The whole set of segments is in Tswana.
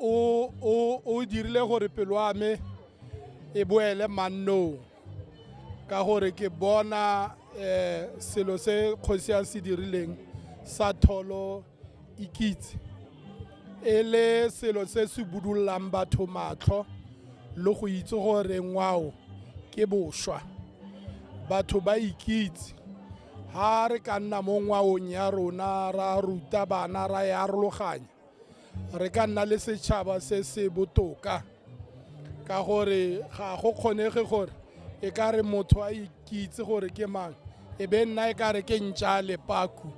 o o o dirile gore pelo ya me e boele mannong ka gore ke bona eh selo se kgosi ya se dirileng sa tholo ikitse e le selo se se budullang batho matlho le go itse gore ngwao ke bošwa batho ba ikitse ha re ka nna mo ngwaong ya rona ra ruta bana ra e arologanya re ka nna le setšhaba se se botoka ka gore ga go kgonege gore e ka re motho a ikitse gore ke mang e be nna e ka re ke ntša lepaku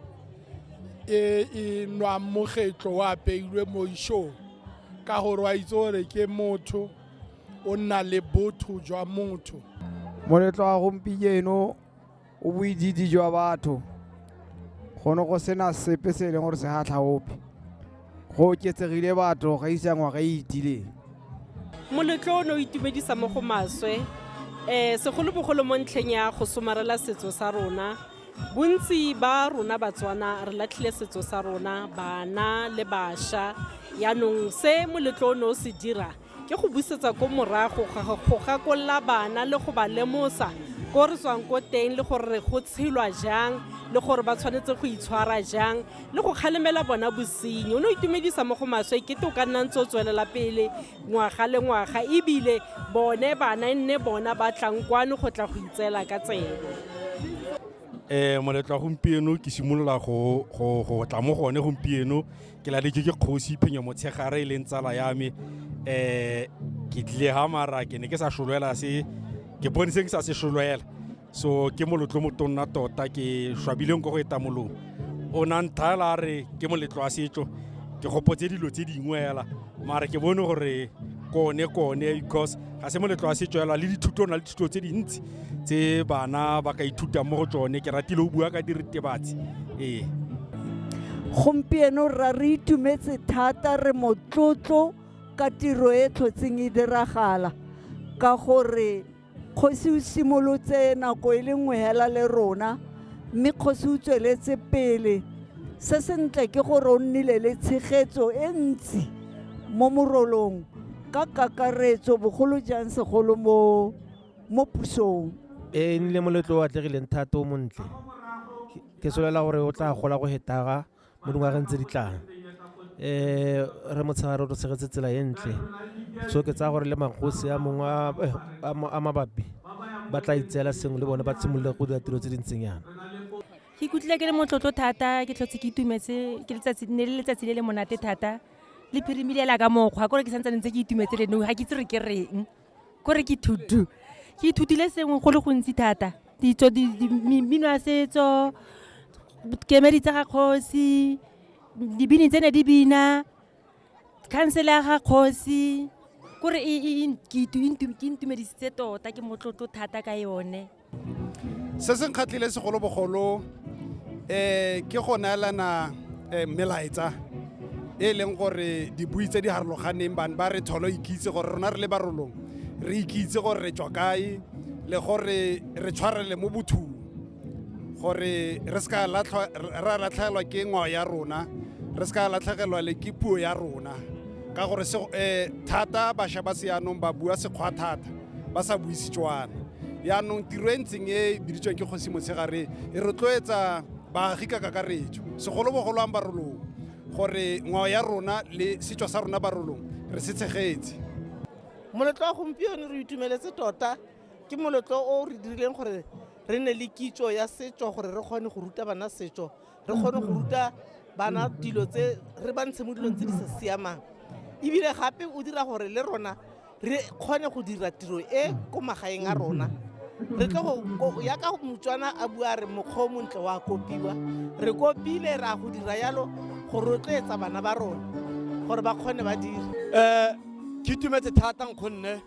e e nwang mogetlo wa apeilwe mo ishong ka gore wa itse gore ke motho o nna le botho jwa motho moletlo wa gompieno o boidiidi jwa batho go ne go sena sepe se e leng gore se gatlha ope go oketsegile batho ga isa ngwaga e itileng moletlo o ne o itumedisa mo go maswe um segolobogolo mo ntlheng ya go somarela setso sa rona bontsi ba rona batswana re latlhile setso sa rona bana le bašwa yaanong se moletlo o ne o se dira ke go busetsa ko morago go gakolola bana le go ba lemosa ko re tswang ko teng le gore go tshelwa jang le gore ba tshwanetse go itshwara jang le go kgalemela bona bosenyi o ne o itumedisa mo go maswe ke to ka nna ntse o tswelela pele ngwaga le ngwaga ebile bone bana e nne bona ba tlang kwano go tla go itseela ka tsebe um moletlo wa gompieno ke simolola go tla mo gone gompieno ke la dijo ke kgosi phenyo motshegare e leng tsala ya me um ke tlile ga mara ke ne ke sa solwela se ke bone se ke sa se solwela so ke molotlo motonna tota ke swabileng ko go etamolong o na nthaela a re ke moletlo wa setso ke gopotse dilo tse dingwe fela mara ke bone gore kone kone because ga se moletlo wa setso yala le dithuto na le dithuto tse dintsi tse bana ba ka ithutang mo go tsone ke ratile o bua ka diritebatsi ee gompieno rra re itumetse thata re motlotlo ka tiro e tlhotseng e diragala ka gore Kgosi o simolotse nako e le nngwe hela le rona mme kgosi o tsweletse pele se sentle ke gore o nnile le tshegetso e ntsi mo morolong ka kakaretso bogolo jang segolo mo mo pusong e nnile moletlo o atlegileng thata o montle ke solela gore o tla gola go hetaga mo dingwageng tse di tlang um re motshegare o re tshegetse tsela e ntle so ke tsaya gore le magosi a mongwe eh, a mabapi ba tla itseela sengwe le bone ba tshimolole go dira tiro tse di ntseng yana ke ikutlwile ke le motlotlo thata ke tlhotse ke itumetse ke letsatsi ne le letsatsi le le monate thata le phirimile la ka mokgwa kore ke santse ntse ke itumetse le no ga ke itse re ke reng kore ke to do ke ithutile sengwe go le gontsi thata ditso mmino ya setso kemedi tsa ga kgosi dibini tse ne di bina khansele ya ga kgosi kore e intumedisitse tota ke motlotlo thata ka yone se se nkgatlhile segolobogolo um ke go neelana um melaetsa e leng gore dibui tse di harologaneng bane ba re tholo ikitse gore rona re le barolong re ikitse gore re tswa kae le gore re tshwarele mo bothung gore re se ka ra latlhegelwa ke ngwao ya rona re se ka latlhegelwa le ke puo ya rona ka gore thata bašwa ba seyanong ba bua sekgwa thata ba sa bue Setswana. Yaanong tiro e ntseng e biditsweng ke kgosi motshegare e rotloetsa baagi ka kakaretso segolobogolo ang barolong gore ngwao ya rona le setso sa rona barolong re se tshegetse moletlo wa gompieno re itumeletse tota ke moletlo o re dirileng gore re ne le kitso ya setso gore re kgone go ruta bana setso re kgone go ruta bana dilo tse re ba ntshe mo dilong tse di sa siamang ebile gape o dira gore le rona re kgone go dira tiro e ko magaeng a rona re tlo go ya ka motswana a bua re mokgwa o montle wa kopiwa re kopile ra go dira yalo go rotloetsa bana ba rona gore ba kgone ba dire um ke itumetse thata nkgonne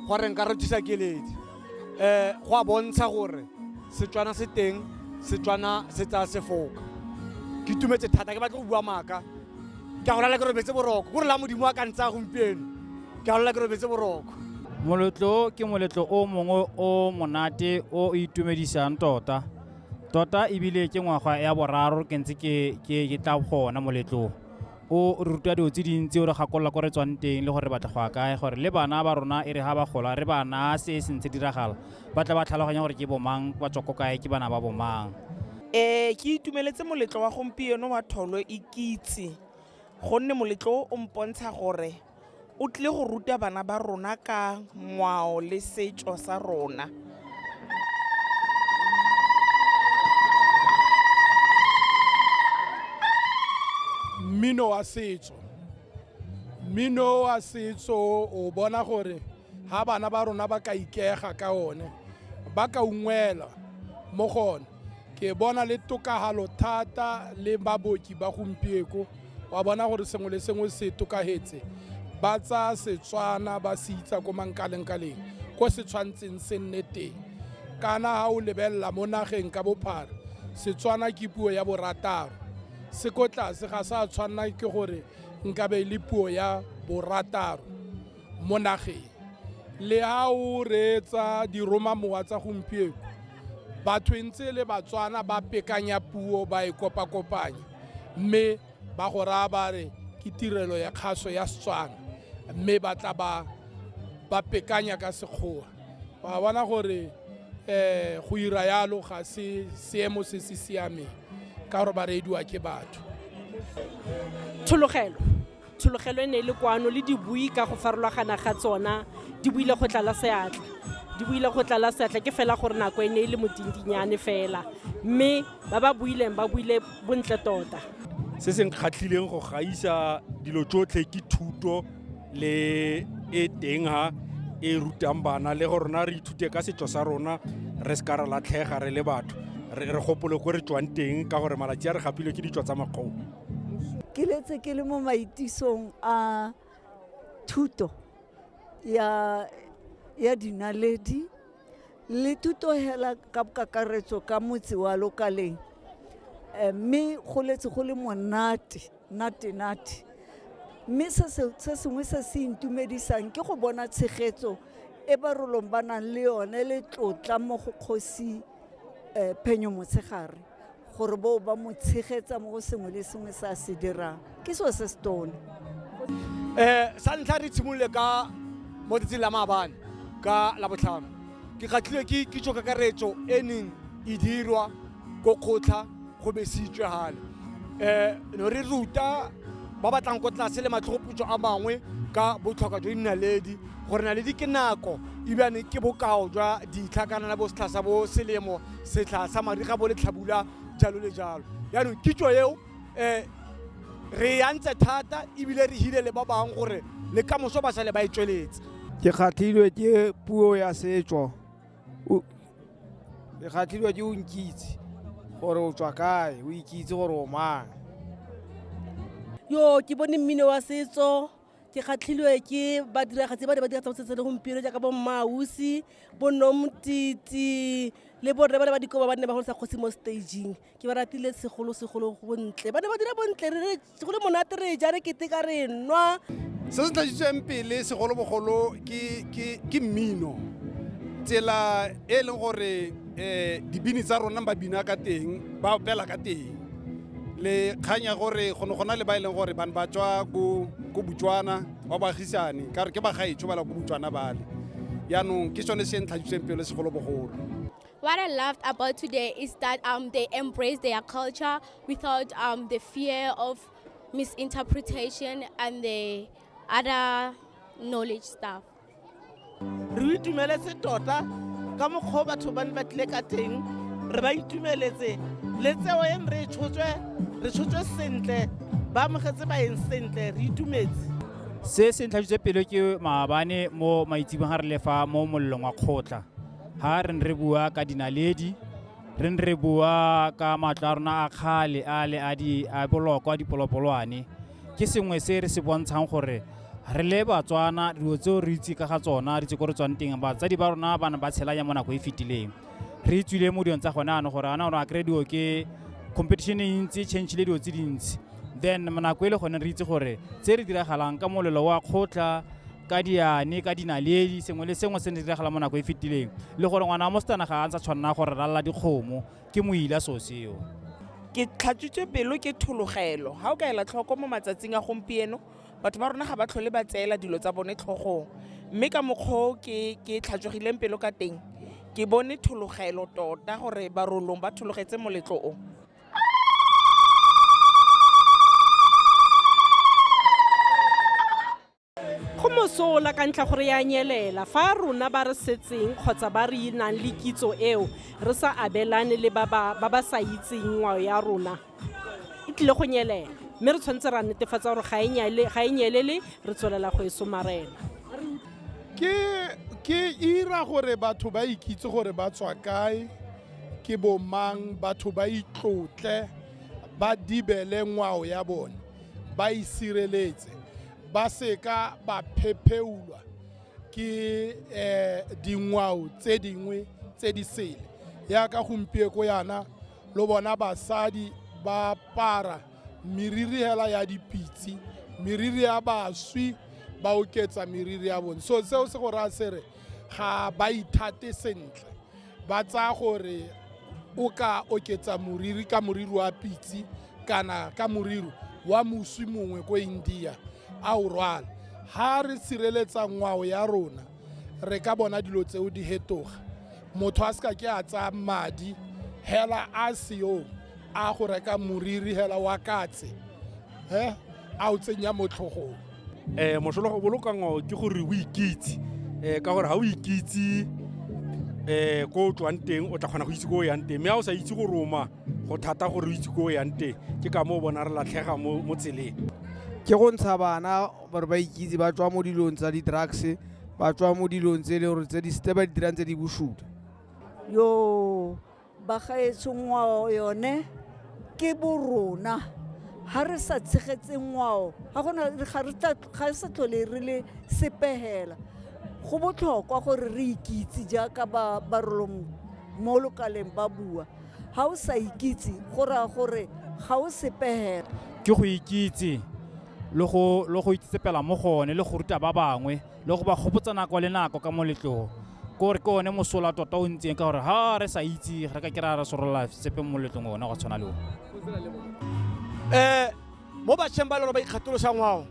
go re nka rothisa keledi um go a bontsha gore setswana se teng setswana se tsaya sefoka ke tumetse thata ke batle go bua maaka ke a go lala ke robetse boroko ko re la modimo a ka ntsaya gompieno ke a go lala ke robetse boroko moletlo ke moletlo o mongwe o monate o itumedisang tota tota ebile ke ngwaga ya boraro ke ntse ke tla gona moletlong o re ruta dilo tse dintsi o re gakolola ko re tswang teng le gore re batla go ya kae gore le bana ba rona e re ga ba gola re ba naya se e sentse diragala ba tla ba tlhaloganya gore ke bomang ba tswa ko kae ke bana ba bomang ee ke itumeletse moletlo wa gompieno wa tholo e kitse gonne moletlo o mpontsha gore O tlile go ruta bana ba rona ka ngwao le setso sa rona. Mmino wa setso, mmino wa setso o bona gore ga bana ba rona ba ka ikega ka one ba ka ungwela mo go one ke bona le tokagalo thata le baboki ba gompieko wa bona gore sengwe le sengwe se tokagetse ba tsa setswana ba se itsa ko mankalengkaleng ko se tshwantseng se nne teng kana ga o lebelela mo nageng ka bophara setswana ke puo ya borataro se ko tlase ga sa tshwanna ke gore nkabe e le puo ya borataro mo nageng. Le ha o reetsa diromamowa tsa gompieko, batho e ntse e le Batswana ba pekanya puo ba e kopakopanya mme ba go raya ba re ke tirelo ya kgaso ya Setswana mme ba tla ba ba pekanya ka Sekgowa. Wa bona gore um go ira yalo ga se seemo se se siameng ka gore ba reediwa ke batho. Tshologelo. tshologelo e ne e le kwano le dibui ka go farologana ga tsona di buile go tlala seatla di buile go tlala seatla ke fela gore nako e ne e le modindinyane fela mme ba ba buileng ba buile bontle tota se se nkgatlhileng go gaisa dilo tsotlhe ke thuto le e teng ha e rutang bana le go rona re ithute ka setso sa rona re se ka re latlhega re le batho re gopole ko re tswang teng ka gore malatsi a re gapile ke ditso tsa makgong ke letse ke le mo maitisong a thuto ya ya dinaledi le thuto hela ka kakaretso ka motse wa lokaleng eh, mme go letse go le monate nate nate mme se sengwe se se intumedisang ke go bona tshegetso e ba rolong ba nang le yone le tlotla mo go kgosi um phenyo motshegare gore bo ba mo tshegetsa mo go sengwe le sengwe se a se dirang ke seo se se tone um sa ntlha re tshimolole ka mo tsatsing la maabane ka labotlhano ke kgatlhilwe ke kitso kakaretso e neng e dirwa ko kgotlha go besitswe gale um no re ruta ba batlang ko tlase le matlhogoputso a mangwe ka botlhokwa jwa dinaledi gore naledi ke nako ebjane ke bokao jwa ditlha kana na bo setlha sa bo selemo setlha sa mariga bo letlhabula jalo le jalo yaanong kitso eo um re yantse thata ebile re hile le ba bangwe gore le ka moso ba sale ba e tsweletse ke kgatlhilwe ke puo ya setso ke kgatlhilwe ke o nkitse gore o tswa kae o ikitse gore o mang yo ke bone mmino wa setso ke kgatlhilwe ke badiragatsi ba ne ba dira tsa setso le gompieno jaaka bo mmausi bo nomtiti le borre ba ne ba dikoba ba nne ba go sa kgosi mo staging ke ba ratile segolosegolo bontle ba ne ba dira bontle re go le monate re ja re keteka re nwa se se tladitsweng pele segolobogolo ke mmino tsela e e leng gore um dibini tsa rona ba bina ka teng ba opela ka teng le kgang ya gore go ne go na le ba e leng gore bane ba tswa ko botswana ba baagisane ka gore ke bagaetsho ba la ko botswana bale yaanong ke sone se ntlhagiseng pelo segolobogolo What I loved about today is that um, they embrace their culture without um, the fear of misinterpretation and the other knowledge stuff. re itumeletse tota ka mokgwa o batho ba ne ba tlile ka teng re ba itumeletse le tseo e re tshotswe re tshotswe sentle ba amogetse baeng sentle re itumetse se se ntlhajitse pelo ke maabane mo maitsibong ga re lefa mo mollong wa kgotla ga re ne re bua ka dinaledi re ne re bua ka matlo a rona a kgale a le a boloko a dipolopolwane ke sengwe se re se bontshang gore re le batswana dilo tseo re itse ka ga tsona re itse ko re tswang teng batsadi ba rona ba ne ba tshela ya mo nako e fetileng re itswile mo dilong tsa gone ano gore ana gore a kry dilo ke competition e ntsi change le dilo tse dintsi then nako e le gone re itse gore tse re diragalang ka molelo wa kgotla ka diane ka dinaledi sengwe le sengwe se ne diragala mo nako e fetileng le gore ngwana wa mosetsana ga a ntsa tshwanela gore ralala dikgomo ke moila so seo ke tlhatswitswe pelo ke thologelo ga o ka ela tlhoko mo matsatsing a gompieno batho ba rona ga ba tlhole ba tseela dilo tsa bone tlhogong mme ka mokgwao ke ke tlhatswegileng pelo ka teng ke bone thologelo tota gore barolong ba thologetse moletlo o go mosola ka ntlha gore ya nyelela fa rona ba re setseng kgotsa ba re nang le kitso eo re sa abelane le ba ba sa itseng ngwao ya rona e tlile go nyelela mme re tshwanetse ra netefatsa gore ga e nyelele re tswelela go e somarela ke ira gore batho ba ikitse gore ba tswa kae ke bomang batho ba itlotle ba dibele ngwao ya bone ba e sireletse ba seka ba phepheulwa ke um dingwao tse dingwe tse di sele yaka gompieko yana lo bona basadi ba para meriri hela ya dipitse meriri ya baswi ba oketsa meriri ya bone so seo se go raya se re ga ba ithate sentle ba tsaya gore o ka oketsa moriri ka moriri wa pitse kana ka moriri wa moswi mongwe ko india a o rwala ha re sireletsa ngwao ya rona re ka bona dilo tseo di hetoga motho a se ka ke a tsaya madi hela a seyo a go reka moriri hela wa katse he a o tsenya mo tlhogong um mosola go boloka ngwao ke gore o ikitse um ka gore ga o ikitse um ko o tswang teng o tla kgona go itse ko o yang teng mme ga o sa itse go roma go thata gore o itse ko o yang teng ke ka moo bona re latlhega mo tseleng ke go ntsha bana gore ba ikitse ba tswa mo dilong tsa di-drugs ba tswa mo dilong tse e leng gore tse ba di dirang tse di bosuta yo Bagaetsho ngwao yone ke bo rona ga re sa tshegetse ngwao ga gona ga re tla ga re sa tlhole re le sepegela go botlhokwa gore re ikitse jaaka ba barolong mo lokaleng ba bua ga o sa ikitse go raya gore ga o sepegela ke go ikitse le go le go itsetsepela mo gone le go ruta ba bangwe le go ba gopotsa nako le nako ka moletlogo ko re ke one mosola tota o ntseng ka gore ga re sa itse re ka kry-a re sorola sepe mo moletlong one go tshwana le one um mo batšheng ba le gore ba ikgatolosa ngwao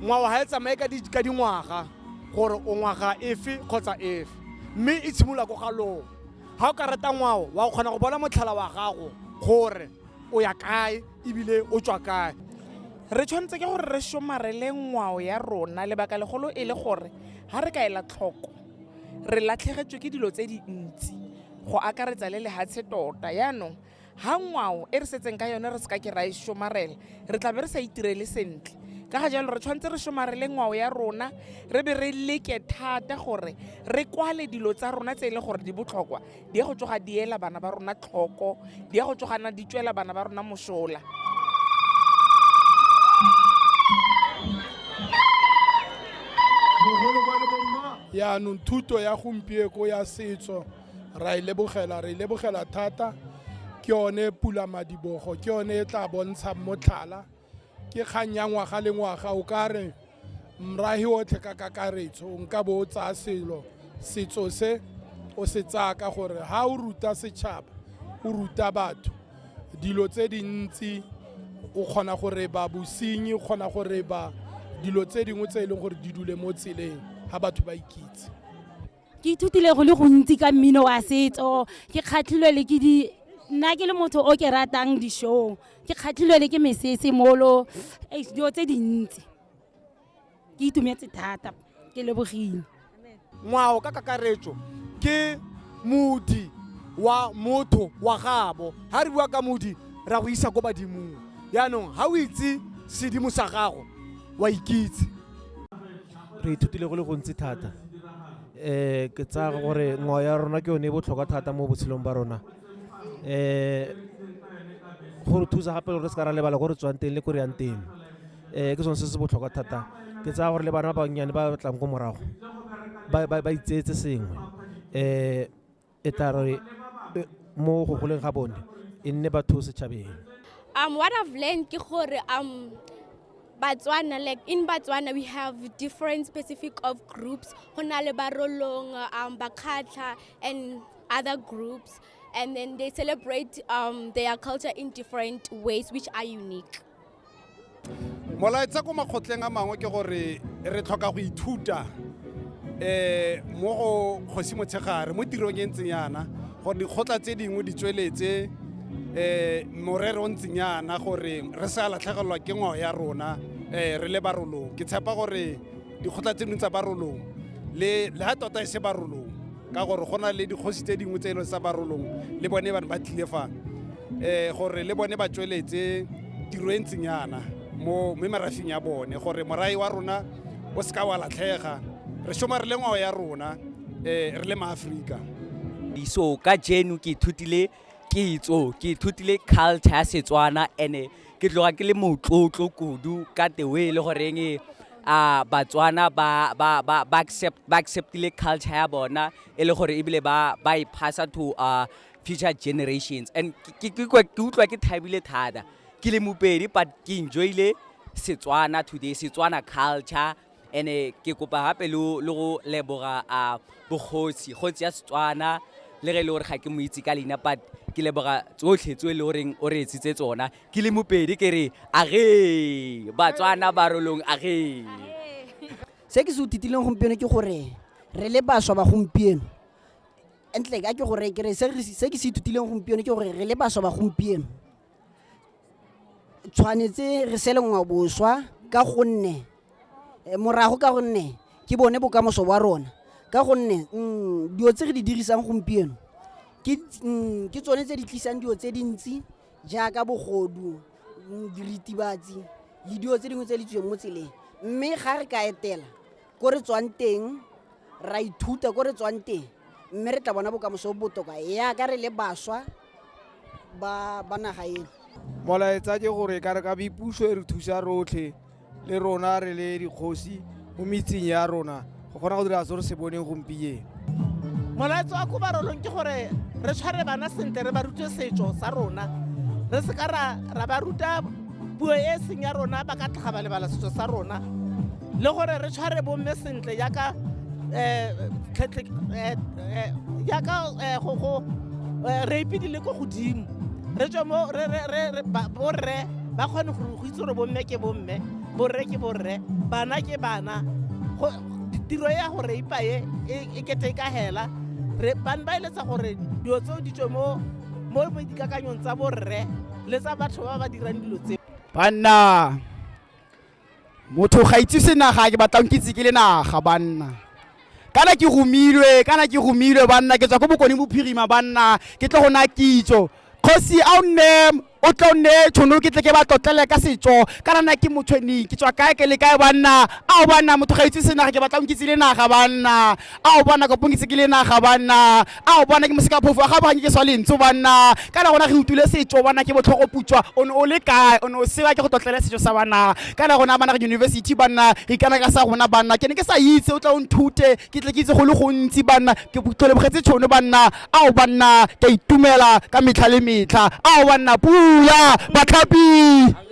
ngwao ga e tsamaye ka dingwaga gore o ngwaga efe kgotsa efe mme e tshimolola ko ga logo ga o ka reta ngwao wa kgona go bona motlhala wa gago gore o ya kae ebile o tswa kae re tshwanetse ke gore re somarele ngwao ya rona lebaka legolo e le gore ga re ka ela tlhoko re latlhegetswe ke dilo tse dintsi go akaretsa le lehatshe tota yaanong ga ngwao e re setseng ka yone re se ka ke ra e somarela re tla be re sa itirele sentle ka ga jalo re tshwanetse re somarele ngwao ya rona re be re leke thata gore re kwale dilo tsa rona tse e leng gore di botlhokwa di ya go tsoga di ela bana ba rona tlhoko di ya go tsoga na di tswela bana ba rona mosola yaanong thuto ya gompieko ya setso ra e lebogela re e lebogela thata ke yone pula madibogo ke yone e tla bontshang motlhala ke kgang ya ngwaga le ngwaga o ka re mrahi otlhe ka kakaretso nka bo o tsaya selo setso se o se tsaya ka gore ha o ruta setšhaba o ruta batho dilo tse dintsi o kgona gore ba bosenyi o kgona gore ba dilo tse dingwe tse e leng gore di dule mo tseleng ga batho ba ikitse ke ithutile go le gontsi ka mmino wa setso ke kgatlhilwe le ke di nna ke le motho o ke ratang di-show ke kgatlhilwe le ke mesese molo dilo tse dintsi ke itumetse thata ke lebogile ngwao ka kakaretso ke modi wa motho wa gabo ga re bua ka modi ra go isa ko badimong yaanong ga o itse sedimo sa gago wa ikitse re ithutile go le gontsi thata um ke tsaya gore ngwao ya rona ke yone e botlhokwa thata mo botshelong ba rona um go re thusa gape gore re se ka ra lebala ko re tswang teng le ko re yang teng um ke sone se se botlhokwa thata ke tsaya gore le bana ba bannyane ba tlang ko morago ba itseetse sengwe um e tla re e, mo go goleng ga bone e nne batho setšhabeng um what i've learned ke gore um Batswana, like in Batswana, we have different specific of groups. Honale Barolong, um, Bakatla, and other groups. And then they celebrate um, their culture in different ways, which are unique. molaetsa ko makgotleng a mangwe ke gore re tlhoka go ithuta um mo go kgosi motshegare mo tirong e ntseng yana gore dikgotla tse dingwe di tsweletse um morere o ntseng yana gore re sa latlhegelelwa ke ngwao ya rona um re le barolong ke tshepa gore dikgotla tse dingwe tsa barolong le ha tota e se barolong ka gore go na le dikgosi tse dingwe tse e leng sa barolong le bone bane ba tlile fa um gore le bone ba tsweletse tiro e ntseng yana mo mme marafing ya bone gore morai wa rona o seka wa latlhega re shoma re le ngwao ya rona um re le maaforika iso ka jeno ke ithutile kitso ke ithutile culture ya setswana and-e ke tloga ke le motlotlo kudu ka the way e le goreng a batswana ba ba ba ba accept ba acceptile culture ya bona e le gore ebile ba ba e phasa to uh, future generations and ke- ke ke kwa- ke utlwa ke thabile thata ke le mopedi but ke enjoyile setswana today setswana culture ene ke kopa gape le go leboga a bogosi kgotsi ya setswana le ge e le gore ga ke mo itse ka leina but ke leboga tsotlhe tso e le goreng o re etsitse tsona ke le mopedi ke re age batswana barolong age se ke se uthitileng gompieno ke gore re le baswa ba gompieno entle ka ke gore ke re se ke se ithutileng gompieno ke gore re le baswa ba gompieno tshwanetse re sele ngwa boswa ka gonne eh, morago ka gonne ke bone bokamoso wa rona ka gonne mm, dilo tse re di dirisang gompieno ke mm, ke tsone tse di tlisang dilo tse dintsi jaaka bogodu mm, diritibatsi le dilo tse dingwe tse di tsweng mo tseleng mme ga re ka etela ko re tswang teng ra ithuta ko re tswang teng mme re tla bona bokamoso bo botoka yaka re le baswa ba ba naga eno molaetsa ke gore ka re ka bipuso e re thusa rotlhe le rona re le dikgosi mo metseng ya rona go kgona go dira se re se boneng gompieno molaetsa wa kobarolong ke gore re tshware bana sentle re ba rute setso sa rona re seka ra ba ruta puo e seng ya rona ba ka tlhaga ba lebala setso sa rona le gore re tshware bomme sentle yaka yaka go re ipedile ko godimo re tswe mo borre ba kgone go itse gore bomme ke bomme borre ke borre bana ke bana tiro ya go reipa e e kete e ka hela bane ba eletsa gore dilo tseo di tswe mo dikakanyong tsa borre le tsa batho ba ba dirang dilo tse banna motho ga itse se naga ke batlang ke itse ke le naga banna kana ke romilwe kana ke romilwe banna ke tswa ko bokone bophirima banna ke tlo go na kitso kgosi a o nne o tlo nne tšhono ke tle ke ba tlotlele ka setso kana na ke motshweni ke tswa kae ke le kae banna a o banna motho ga itse se naga ke batlang ke itse le naga banna a o banna kopong ke itse ke le naga banna a o bona ke mosekaphofu a ga banye ke swa lentso banna kana gona re utule setso bona ke botlhogo putswa o ne o le kae o ne o sewa ke go tlotlela setso sa banna kana gona bana re university banna re ikana ka sa rona banna ke ne ke sa itse o tla o nthute ke tle ke itse go le gontsi banna ke tlolebogetse tshono banna a o banna ke itumela ka metlha le metlha a o banna pula batlhapi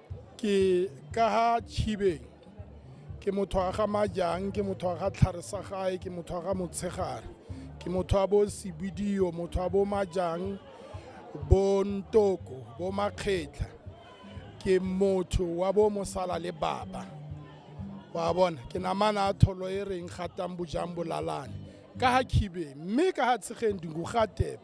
ke ka ga tshibeng ke motho wa ga majang ke motho wa ga tlhare sa gae ke motho wa ga motshegare ke motho wa bo sebidio motho wa bo majang bo ntoko bo makgetlha ke motho wa bo mosala le baba wa bona ke namana a tholo e reng gatang bojang bolalane ka ga khibe mme ka ga tshegeng dingu ga tepe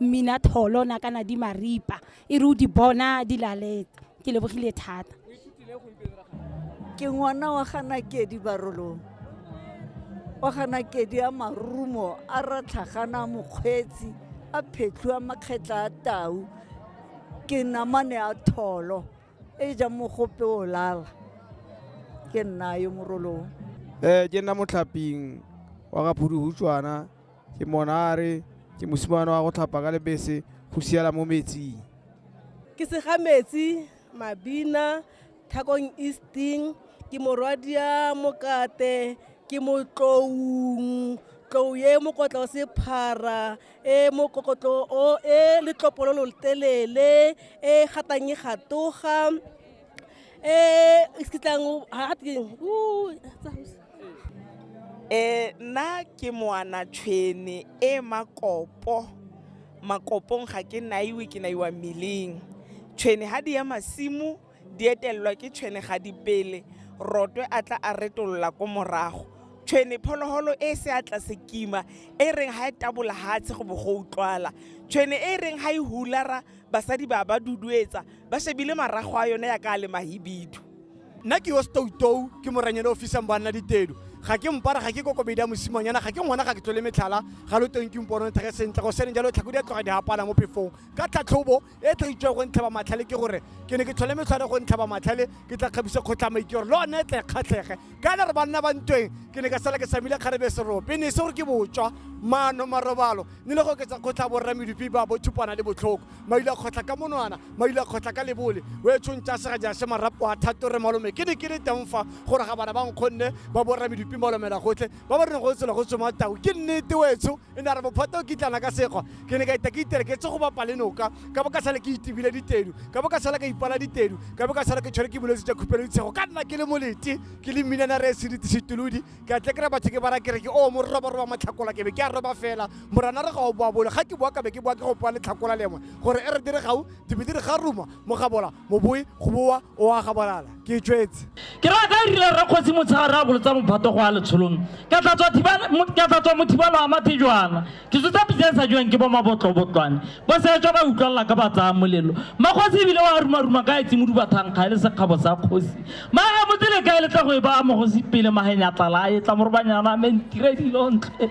mmina tholo na kana di maripa e re o di bona di laletse ke lebogile thata ke ngwana wa ganakedi barolong wa ganakedi a marumo a ratlhagana mokgweetsi a phetlhu a makgetla a tau ke namane a tholo e ja mogope o lala ke nna yo morolong um ke nna motlhaping wa ga phuduhutswana Ke monare, ke mosimane wa go tlhapa ka lebese go siela mo metsing. Ke segametsi, mabina, thakong easting, ke morwadia mokate, ke motloung, tlou e mokotla o sephara e mokokotlo o e letlopololo telele e gatang e gatoga Eh, eh, nna ke moana tshwene e makopo makopong ga ke naiwe ke naiwa mmeleng tshwene ga di ya masimo di etelelwa ke tshwene ga di pele rotwe a tla a retolola ko morago tshwene phologolo e se a tla se kima e reng ga e tabola gatshe go bo go utlwala tshwene e reng ga e hulara basadi ba ba duduetsa ba shebile marago a yone ya ka a le mahibidu nna ke yo stoutou ke moranyane o fisang boanna ditedu ga ke mpara ga ke kokobedi ya mosimanyana ga ke ngwana ga ke tlole metlhala ga lo teng ke mpono thege sentle go sene jalo tlhako di a tloga di hapana mo phefong ka tlhatlhobo e tla itswa go ntlhaba matlhale ke gore ke ne ke tlhole metlhware go ntlhaba matlhale ke tla kgabisa kgotlhamaike gore le one tle kgatlhege ka ena re banna ba ntweng ke ne ka sala ke samile kgarebe serope ne se gore ke botswa maano marobalo ne le go oketsa kgotlha borra medupi ba bothupana le botlhoko maile a kgotlha ka monwana maile a kgotlha ka lebole o e tshwongtsa sega jase marapo a thatore malome ke ne ke le teng fa gore ga bana ba nkgonne ba borra medupi malomela gotlhe ba ba reng go tsela go tsoma tau ke nnete wetsho e ne a re bophata o kitlana ka sekgwa ke ne ka ita ke itere ke tse go bapa le noka ka bo ka sala ke itebile ditedu ka bo ka sala ka ipala ditedu ka bo ka sala ke tshwere ke bolwetse ja khupelo ditshego ka nna ke le molete ke le mminana re sedite setolodi ke a tle kry batho ke bara kere ke o oh, mo roboroba matlhakola ke be ke a roba fela morana re ga o boa bole ga ke boa ka be ke boa ke go poa letlhakola lengwe gore e re dire gau dibe di re ga ruma mogabola moboe go boa o a gabolala ke tswetse ke ra ka rile ra kgosi motshegare a bolotsa mophato go a letsholong ka tla tswa mothibalo a mathejwana ke tsotsa pitsa e sa jwang ke bo mabotlobotlwane bo setswa ba utlwalela ka ba tsaya molelo makgosi ebile wa rumaruma ka etse moduba thankga e le sekgabo sa kgosi maga motsele ka e letla go e ba mogosi pele magenya tlala a etla morobanyana a mentire dilontle